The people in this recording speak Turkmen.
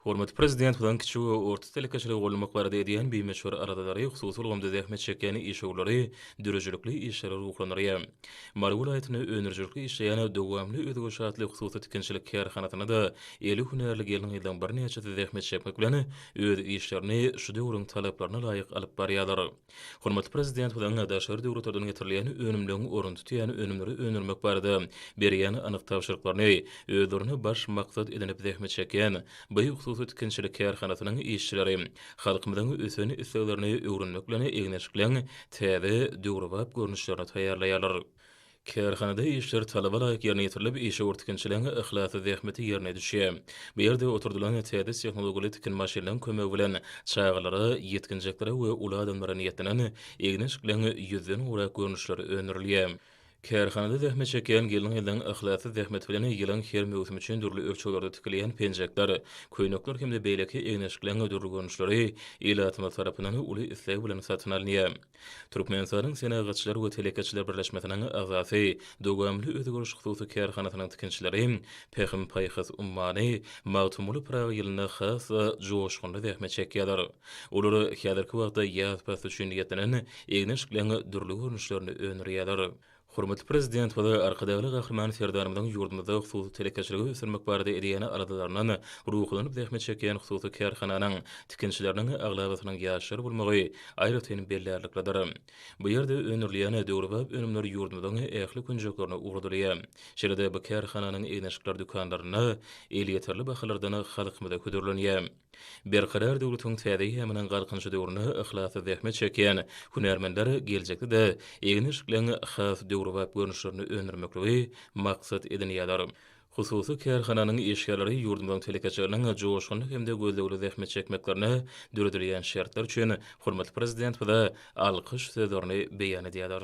Hormatly Prezidentimiziň kiçi we orta telekeçiligi gollamak barada edýän bimeşgor aladalary hususy ulgamda zähmet çekýän işewürleri döredijilikli işlere ruhlandyrýar. Mary welaýatynda öndürijilikli işleýän Dowamly özgerişi atly hususy tikinçilik kärhanasynda-da eli hünärli gelin-gyzlaryň birnäçesi zähmet çekmek bilen, öz işlerini şu döwrüň talaplaryna laýyk alyp barýarlar. Hormatly Prezidentimiziň daşary döwletlerden getirilýän önümleriň ornuny tutýan önümleri öndürmek barada berýän anyk tabşyryklaryny özlerine baş maksat edinip zähmet çekýän bu hususy tikinçilik kärhanasynyň işçileri halkymyzyň ösen isleglerini öwrenmek bilen egneşikligiň täze, döwrebap görnüşlerini taýýarlaýarlar. Kärhanada işler talaba laýyk ýerine ýetirilip, işewürtginçiligiň yhlasly zähmeti ýerine düşýär. Bu ýerde oturdylan täze tehnologiýaly tikin maşynlaryň kömegi bilen çagalara, ýetginjeklere we uly adamlara niýetlenen egin-eşikleň ýüzden gowrak görnüşleri öndürilýär. Kärhanada zähmet çekýän gelin-gyzlaryň yhlasly zähmeti bilen ýylyň her möwsümi üçin dürli ölçeglerde tikilýän penjekler, köýnekler hem-de beýleki egin-eşikleň dürli görnüşleri ilatymyz tarapyndan uly isleg bilen satyn alynýar. Türkmenistanyň Senagatçylar we telekeçiler birleşmesiniň agzasy, Döwamly özgeriş hususy kärhanasynyň tikinçileri Pähim-paýhas ummany Magtymguly Pyragy ýylynda has-da joşgunly zähmet çekýärler. Olar häzirki wagtda ýaz pasly üçin niýetlenen egin-eşikleň dürli görnüşlerini öndürýärler. Hormatly Prezidentimiz Arkadagly Gahryman Serdarymyzyň ýurdumyzda hususy telekeçiligi ösdürmek barada edýän aladalaryndan ruhulanyp zähmet çekýän hususy kärhananyň tikinçileriniň aglabasynyň ýaşlar bolmagy aýratyn bellärliklidir. Bu ýerde öndürilýän döwrebap önümler ýurdumyzyň ähli künjeklerine ugradylýar. Şeýle-de bu kärhananyň egnaşyklar dükanlarynda elýeterli bahalardan halkymyza hödürlenýär. Berkarar döwletiň täze eýýamynyň Galkynyşy döwründe yhlasly zähmet çekýän hünärmenler geljekde-de egin-eşikleň has döwrebap görnüşlerini öndürmekligi maksat edinýärler. Hususy kärhananyň işgärleri ýurdumyzyň telekeçileriniň joşgunly hem-de gözlegli zähmet çekmeklerine döredilýän şertler üçin hormatly Prezidentimize alkyş sözlerini beýan edýärler.